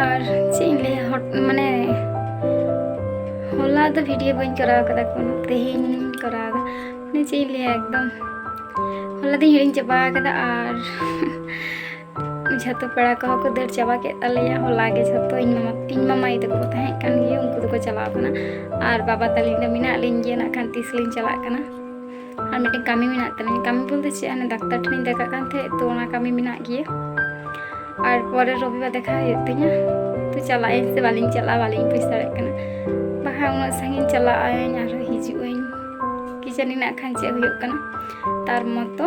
ᱟᱨ ᱪᱮᱫ ᱤᱧ ᱞᱟᱹᱭᱟ ᱢᱟᱱᱮ ᱦᱚᱞᱟ ᱫᱚ ᱵᱷᱤᱰᱤᱭᱳ ᱵᱟᱹᱧ ᱠᱚᱨᱟᱣ ᱠᱟᱫᱟ ᱠᱳᱱᱳ ᱛᱮᱦᱮᱧ ᱠᱚᱨᱟᱣ ᱫᱟ ᱢᱟᱱᱮ ᱪᱮᱫ ᱤᱧ ᱞᱟᱹᱭᱟ ᱮᱠᱫᱚᱢ ᱦᱚᱞᱟ ᱫᱚᱧ ᱦᱤᱲᱤᱧ ᱪᱟᱵᱟ ᱠᱟᱫᱟ ᱟᱨ ᱡᱷᱚᱛᱚ ᱯᱮᱲᱟ ᱠᱚᱦᱚᱸ ᱠᱚ ᱫᱟᱹᱲ ᱪᱟᱵᱟ ᱠᱮᱫ ᱛᱟᱞᱮᱭᱟ ᱦᱚᱞᱟ ᱜᱮ ᱡᱷᱚᱛᱚ ᱤᱧ ᱢᱟᱢᱟ ᱤᱧ ᱢᱟᱢᱟ ᱟᱭᱳ ᱛᱟᱠᱚ ᱠᱚ ᱛᱟᱦᱮᱸ ᱠᱟᱱ ᱜᱮᱭᱟ ᱩᱱᱠᱩ ᱫᱚᱠᱚ ᱪᱟᱞᱟᱣ ᱠᱟᱱᱟ ᱟᱨ ᱵᱟᱵᱟ ᱛᱟᱹᱞᱤᱧ ᱫᱚ ᱢᱮᱱᱟᱜ ᱞᱤᱧ ᱜᱮᱭᱟ ᱱᱟᱜ ᱠᱷᱟᱱ ᱛᱤᱥ ᱞᱤᱧ ᱪᱟᱞᱟᱜ ᱠᱟᱱᱟ ᱟᱨ ᱢᱤᱫᱴᱮᱱ ᱠᱟᱹᱢᱤ ᱢᱮᱱᱟᱜ ᱛᱟᱹᱞᱤᱧ ᱠᱟᱹᱢᱤ ᱵᱚᱞᱛᱮ ᱪᱮᱫ ᱦᱟᱱᱮ ᱰᱟᱠᱛᱟᱨ ᱴᱷᱮᱱᱤᱧ ᱫᱮᱠᱷᱟᱜ ᱠᱟᱱ ᱛᱟᱦᱮᱸᱫ ᱛᱚ ᱚᱱᱟ ᱠᱟᱹᱢᱤ ᱢᱮᱱᱟᱜ ᱜᱮᱭᱟ ᱟᱨ ᱯᱚᱨᱮ ᱨᱚᱵᱤᱵᱟᱨ ᱫᱮᱠᱷᱟ ᱦᱩᱭᱩᱜ ᱛᱤᱧᱟ ᱛᱚ ᱪᱟᱞᱟᱜ ᱟᱹᱧ ᱥᱮ ᱵᱟᱹᱞᱤᱧ ᱪᱟᱞᱟᱜᱼᱟ ᱵᱟᱹᱞᱤᱧ ᱵᱩᱡᱽ ᱫᱟᱲᱮᱭᱟᱜ ᱠᱟᱱᱟ ᱵᱟᱠᱷᱟᱱ ᱩᱱᱟᱹᱜ ᱥᱟᱺᱜᱤᱧ ᱪᱟᱞᱟᱜ ᱟᱹᱧ ᱟᱨᱦᱚᱸ ᱦᱤᱡᱩᱜ ᱟᱹᱧ ᱠᱤ ᱡᱟᱹᱱᱤ ᱱᱟᱜ ᱠᱷᱟᱱ ᱪᱮᱫ ᱦᱩᱭᱩᱜ ᱠᱟᱱᱟ ᱛᱟᱨ ᱢᱚᱛᱚ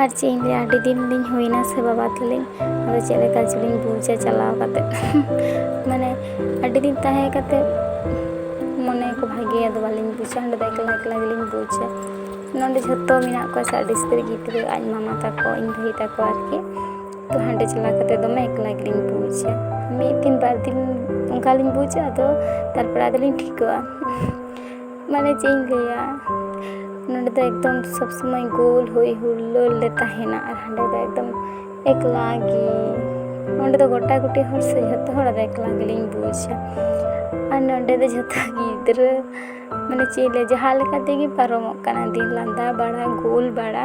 ᱟᱨ ᱪᱮᱫ ᱤᱧ ᱞᱟᱹᱭᱟ ᱟᱹᱰᱤ ᱫᱤᱱ ᱞᱤᱧ ᱦᱩᱭᱱᱟ ᱥᱮ ᱵᱟᱵᱟ ᱛᱟᱹᱞᱤᱧ ᱟᱫᱚ ᱪᱮᱫ ᱞᱮᱠᱟ ᱪᱚᱞᱤᱧ ᱵᱩᱡᱟ ᱪᱟᱞᱟᱣ ᱠᱟᱛᱮ ᱢᱟᱱᱮ ᱟᱹᱰᱤ ᱫᱤᱱ ᱛᱟᱦᱮᱸ ᱠᱟᱛᱮ ᱢᱚᱱᱮ ᱠᱚ ᱵᱷᱟᱜᱮ ᱟᱫᱚ ᱵᱟᱹᱞᱤᱧ ᱵᱩᱡᱟ ᱚᱸᱰᱮ ᱫᱚ ᱮᱠᱞᱟ ᱮᱠᱞᱟ ᱜᱮᱞᱤᱧ ᱵᱩᱡᱟ ᱱᱚᱰᱮ ᱡᱷᱚᱛᱚ ᱢᱮᱱᱟᱜ ᱠᱚᱣᱟ ᱥᱮ ᱟᱹᱰᱤ ᱩᱥᱛᱟᱹᱨ ᱜᱤᱫᱽᱨᱟᱹ ᱟᱡ ᱢᱟᱢᱟ ᱛᱟᱠᱚ ᱤᱧ ᱵᱷᱟᱹᱭ ᱛᱟᱠᱚ ᱟᱨᱠᱤ ᱛᱚ ᱦᱟᱸᱰᱮ ᱪᱟᱞᱟᱣ ᱠᱟᱛᱮ ᱫᱚᱢᱮ ᱮᱠᱞᱟ ᱜᱮᱞᱤᱧ ᱵᱩᱡᱟ ᱢᱤᱫ ᱫᱤᱱ ᱵᱟᱨ ᱫᱤᱱ ᱚᱱᱠᱟᱞᱤᱧ ᱵᱩᱡᱟ ᱟᱫᱚ ᱛᱟᱨᱯᱚᱨᱮ ᱟᱫᱚᱞᱤᱧ ᱴᱷᱤᱠᱚᱜᱼᱟ ᱢᱟᱱᱮ ᱪᱮᱫ ᱤᱧ ᱞᱟᱹᱭᱟ ᱱᱚᱸᱰᱮ ᱫᱚ ᱮᱠᱫᱚᱢ ᱥᱚᱵ ᱥᱚᱢᱚᱭ ᱜᱳᱞ ᱦᱩᱭ ᱦᱩᱞᱞᱳ ᱞᱮ ᱛᱟᱦᱮᱱᱟ ᱟᱨ ᱦᱟᱸᱰᱮ ᱫᱚ ᱮᱠᱫᱚᱢ ᱮᱠᱞᱟ ᱜᱮ ᱱᱚᱸᱰᱮ ᱫᱚ ᱜᱚᱴᱟ ᱜᱩᱴᱤ ᱦᱚᱲ ᱥᱮ ᱡᱷᱚᱛᱚ ᱦᱚᱲ ᱟᱨ ᱮᱠᱞᱟ ᱜᱮᱞᱤᱧ ᱵᱩᱡᱟ ᱟᱨ ᱱᱚᱸᱰᱮ ᱫᱚ ᱡᱷᱚᱛᱚ ᱜᱤᱫᱽᱨᱟᱹ ᱢᱟᱱᱮ ᱪᱮᱫ ᱤᱧ ᱞᱟᱹᱭᱟ ᱡᱟᱦᱟᱸ ᱞᱮᱠᱟ ᱛᱮᱜᱮ ᱯᱟᱨᱚᱢᱚᱜ ᱠᱟᱱᱟ ᱫᱤᱱ ᱞᱟᱸᱫᱟ ᱵᱟᱲᱟ ᱜᱳᱞ ᱵᱟᱲᱟ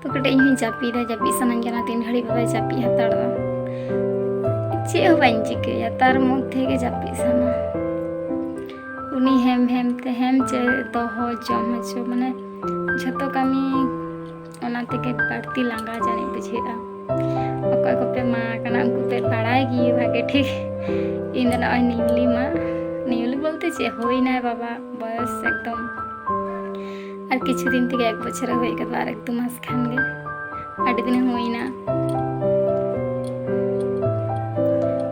ᱛᱚ ᱠᱟᱹᱴᱤᱡ ᱤᱧ ᱦᱚᱸᱧ ᱡᱟᱹᱯᱤᱫᱟ ᱡᱟᱹᱯᱤᱫ ᱥᱟᱱᱟᱧ ᱠᱟᱱᱟ ᱛᱤᱱ ᱜᱷᱟᱹᱲᱤᱡ ᱵᱟᱵᱟᱭ ᱡᱟᱹᱯᱤᱫ ᱦᱟᱛᱟᱲ ᱫᱟ ᱪᱮᱫ ᱦᱚᱸ ᱵᱟᱹᱧ ᱪᱤᱠᱟᱹᱭᱟ ᱛᱟᱨ ᱢᱚᱫᱽᱫᱷᱮ ᱜᱮ ᱡᱟᱹᱯᱤᱫ ᱥᱟᱱᱟ ᱩᱱᱤ ᱦᱮᱢ ᱦᱮᱢ ᱛᱮ ᱦᱮᱢ ᱪᱮ ᱫᱚᱦᱚ ᱡᱚᱢ ᱦᱚᱪᱚ ᱢᱟᱱᱮ ᱡᱷᱚᱛᱚ ᱠᱟᱹᱢᱤ ᱚᱱᱟ ᱛᱮᱜᱮ ᱵᱟᱹᱲᱛᱤ ᱞᱟᱸᱜᱟ ᱡᱟᱹᱱᱤᱡ ᱵᱩᱡᱷᱟᱹᱜᱼᱟ ᱚᱠᱚᱭ ᱠᱚᱯᱮ ᱢᱟ ᱠᱟᱱᱟ ᱩᱱᱠᱩ ᱯᱮ ᱵᱟᱲᱟᱭ ᱜᱮ ᱵᱷᱟᱜᱮ ᱴᱷᱤᱠ ᱤᱧ ᱫᱚ ᱱᱚᱜᱼᱚᱭ ᱱᱤᱭᱩᱞᱤ ᱢᱟ ᱱᱤᱭᱩᱞᱤ ᱵᱚᱞᱛᱮ ᱪᱮᱫ ᱦᱩᱭᱱᱟᱭ ᱵᱟᱵᱟ ᱵᱚᱭᱚᱥ ᱮᱠᱫᱚᱢ ᱟᱨ ᱠᱤᱪᱷᱩ ᱫᱤᱱ ᱛᱮᱜᱮ ᱮᱠ ᱵᱚᱪᱷᱚᱨ ᱦᱩᱭ ᱠᱟᱱᱟ ᱟᱨ ᱮᱠ ᱫᱩ ᱢᱟᱥ ᱠᱷᱟᱱ ᱜᱮ ᱟᱹᱰᱤ ᱫᱤᱱ ᱦᱩᱭᱱᱟ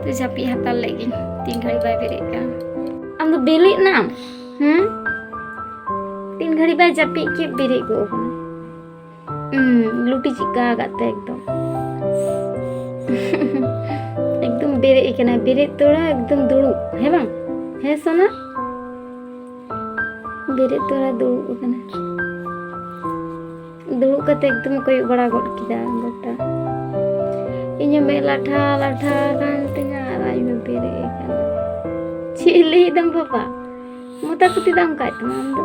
ᱛᱚ ᱡᱟᱹᱯᱤᱫ ᱦᱟᱛᱟᱲ ᱞᱮᱫ ᱜᱤᱧ ᱛᱤᱱ ᱜᱷᱟᱹᱲᱤᱡ ᱵᱟᱭ ᱵᱮᱨᱮᱫ ᱠᱟᱱ ᱟᱢ ᱫᱚ ᱵᱮᱨᱮᱫ ᱱᱟᱢ ᱦᱮᱸ ᱛᱤᱱ ᱜᱷᱟᱹᱲᱤᱡ ᱵᱟᱭ ᱡᱟᱹᱯᱤᱫ ᱠᱮᱫ ᱵᱮᱨᱮᱫ ᱜᱚᱜ ᱠᱟᱱᱟ ᱞᱩᱴᱤ ᱪᱤᱠᱟ ᱟᱠᱟᱫ ᱛᱮ ᱮᱠᱫᱚᱢ ᱮᱠᱫᱚᱢ ᱵᱮᱨᱮᱫ ᱠᱟᱱᱟ ᱵᱮᱨᱮᱫ ᱛᱚᱲᱟ ᱮᱠᱫᱚᱢ ᱫᱩᱲᱩᱵ ᱦᱮᱸ ᱵᱟᱝ ᱦᱮᱸ ᱥᱚᱱᱟ ᱵᱮᱨᱮᱫ ᱛᱚᱲᱟ ᱫᱩᱲᱩᱵ ᱟᱠᱟᱱᱟ ᱫᱩᱲᱩᱵ ᱠᱟᱛᱮ ᱮᱠᱫᱚᱢ ᱠᱚᱭᱚᱜ ᱵᱟᱲᱟ ᱜᱚᱫ ᱠᱮᱫᱟ ᱜᱚᱴᱟ ᱤᱧᱟᱹᱜ ᱢᱮᱫ ᱞᱟᱴᱷᱟ ᱞᱟᱴᱷᱟ ᱟᱠᱟᱱ ᱛᱤᱧᱟ ᱟᱨ ᱟᱡ ᱢᱮ ᱵᱮᱨᱮᱫ ᱟᱠᱟᱱᱟ ᱪᱮᱫ ᱞᱟᱹᱭᱮᱫᱟᱢ ᱵᱟᱵᱟ ᱢᱚᱛᱟ ᱠᱩᱛᱤ ᱫᱟᱢ ᱠᱟᱡ ᱛᱟᱢᱟ ᱟᱢ ᱫᱚ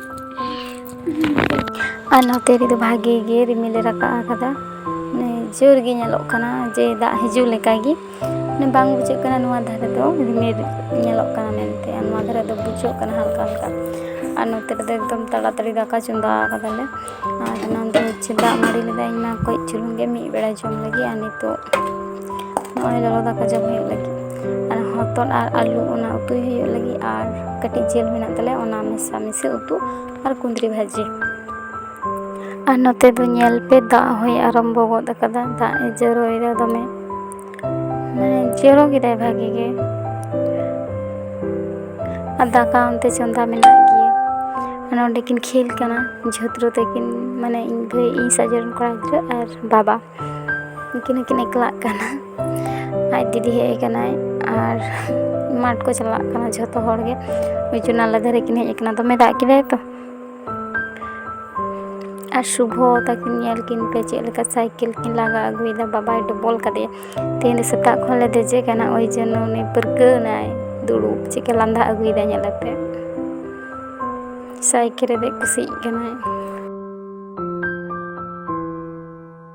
ᱟᱨ ᱱᱚᱛᱮ ᱨᱮᱫᱚ ᱵᱷᱟᱜᱮ ᱜᱮ ᱨᱤᱢᱤᱞᱮ ᱨᱟᱠᱟᱵ ᱟᱠᱟᱫᱟ ᱡᱳᱨ ᱜᱮ ᱧᱮᱞᱚᱜ ᱠᱟᱱᱟ ᱡᱮ ᱫᱟᱜ ᱦᱤᱡᱩᱜ ᱞᱮᱠᱟ ᱜᱮ ᱢᱟᱱᱮ ᱵᱟᱝ ᱵᱩᱡᱷᱟᱹᱜ ᱠᱟᱱᱟ ᱱᱚᱣᱟ ᱫᱷᱟᱨᱮ ᱫᱚ ᱨᱤᱢᱤᱞ ᱧᱮᱞᱚᱜ ᱠᱟᱱᱟ ᱢᱮᱱᱛᱮ ᱟᱨ ᱱᱚᱣᱟ ᱫᱷᱟᱨᱮ ᱫᱚ ᱵᱩᱡᱷᱟᱹᱜ ᱠᱟᱱᱟ ᱦᱟᱞᱠᱟ ᱦᱟᱞᱠᱟ ᱟᱨ ᱱᱚᱛᱮ ᱨᱮᱫᱚ ᱮᱠᱫᱚᱢ ᱛᱟᱲᱟᱛᱟᱹᱲᱤ ᱫᱟᱠᱟ ᱪᱚᱸᱫᱟ ᱟᱠᱟᱫᱟᱞᱮ ᱟᱨ ᱚᱱᱟ ᱫᱚ ᱦᱚᱪᱪᱷᱮ ᱫᱟᱜ ᱢᱟᱹᱰᱤ ᱞᱮᱫᱟ ᱤᱧ ᱢᱟ ᱠᱟᱹᱡ ᱪᱩᱞᱩᱝ ᱜᱮ ᱢᱤᱫ ᱵᱮᱲᱟ ᱡᱚᱢ ᱞᱟᱹᱜᱤᱫ ᱟᱨ ᱱᱤᱛᱚᱜ ᱱᱚᱜᱼᱚᱭ ᱞᱚᱞᱚ ᱫᱟᱠᱟ ᱡᱚᱢ ᱦᱩᱭᱩᱜ ᱞᱟᱹᱜᱤᱫ ᱟᱨ ᱦᱚᱛᱚᱫ ᱟᱨ ᱟᱹᱞᱩ ᱚᱱᱟ ᱩᱛᱩᱭ ᱦᱩᱭᱩᱜ ᱞᱟᱹᱜᱤᱫ ᱟᱨ ᱠᱟᱹᱴᱤᱡ ᱡᱤᱞ ᱢᱮᱱᱟᱜ ᱛᱟᱞᱮᱭᱟ ᱚᱱᱟ ᱢᱮᱥᱟ ᱢᱤᱥᱤ ᱩᱛᱩ ᱟᱨ ᱠᱩᱸᱫᱽᱨᱤ ᱵᱷᱟᱹᱡᱤ ᱟᱨ ᱱᱚᱛᱮ ᱫᱚ ᱧᱮᱞ ᱯᱮ ᱫᱟᱜ ᱦᱚᱸᱭ ᱟᱨᱟᱢᱵᱚ ᱜᱚᱫ ᱠᱟᱫᱟ ᱫᱟᱜ ᱮ ᱡᱚᱨᱚᱭᱮᱫᱟ ᱫᱚᱢᱮ ᱢᱟᱱᱮ ᱡᱚᱨᱚ ᱠᱮᱫᱟᱭ ᱵᱷᱟᱜᱮ ᱜᱮ ᱟᱨ ᱫᱟᱠᱟ ᱚᱱᱛᱮ ᱪᱚᱸᱫᱟ ᱢᱮᱱᱟᱜ ᱜᱮᱭᱟ ᱢᱟᱱᱮ ᱚᱸᱰᱮ ᱠᱤᱱ ᱠᱷᱮᱞ ᱠᱟᱱᱟ ᱡᱷᱚᱛᱨᱚ ᱛᱟᱹᱠᱤᱱ ᱢᱟᱱᱮ ᱤᱧ ᱵᱷᱟᱹᱭ ᱤᱧ ᱥᱟᱡ ᱨᱮᱱ ᱠᱚᱲᱟ ᱜᱤᱫᱽᱨᱟᱹ ᱟᱨ ᱵᱟᱵᱟ ᱩᱱᱠᱤᱱ ᱦᱚᱸᱠᱤᱱ ᱮᱠᱞᱟᱜ ᱠᱟᱱᱟ ᱟᱡ ᱫᱤᱫᱤ ᱦᱮᱡ ᱠᱟᱱᱟᱭ ᱟᱨ ᱢᱟᱴᱷ ᱠᱚ ᱪᱟᱞᱟᱜ ᱠᱟᱱᱟ ᱡᱷᱚᱛᱚ ᱦᱚᱲᱜᱮ ᱩᱪᱩ ᱱᱟᱞᱟ ᱫᱷᱟᱨᱮ ᱠᱤᱱ ᱦᱮᱡ ᱠᱟᱱᱟ ᱫᱚᱢᱮ ᱫᱟᱜ ᱠᱮᱫᱟᱭ ᱛᱚ ᱟᱨ ᱥᱩᱵᱷᱚ ᱛᱟᱹᱠᱤᱱ ᱧᱮᱞ ᱠᱤᱱ ᱯᱮ ᱪᱮᱫ ᱞᱮᱠᱟ ᱥᱟᱭᱠᱮᱞ ᱠᱤᱱ ᱞᱟᱜᱟ ᱟᱹᱜᱩᱭᱮᱫᱟ ᱵᱟᱵᱟᱭ ᱰᱚᱵᱚᱞ ᱠᱟᱫᱮᱭᱟ ᱛᱮᱦᱮᱧ ᱫᱚ ᱥᱮᱛᱟᱜ ᱠᱷᱚᱱ ᱞᱮ ᱫᱮᱡᱮ ᱠᱟᱱᱟ ᱳᱭ ᱡᱚᱱᱱᱚ ᱩᱱᱤ ᱯᱟᱹᱨᱠᱟᱹᱣ ᱮᱱᱟᱭ ᱫᱩᱲᱩᱵ ᱪᱮᱫᱠᱟ ᱞᱟᱸᱫᱟ ᱟᱹᱜᱩᱭᱮᱫᱟᱭ ᱧᱮᱞ ᱟᱛᱮ ᱥᱟᱭᱠᱮᱞ ᱨᱮ ᱫᱮᱡ ᱠᱩᱥᱤᱜ ᱠᱟᱱᱟᱭ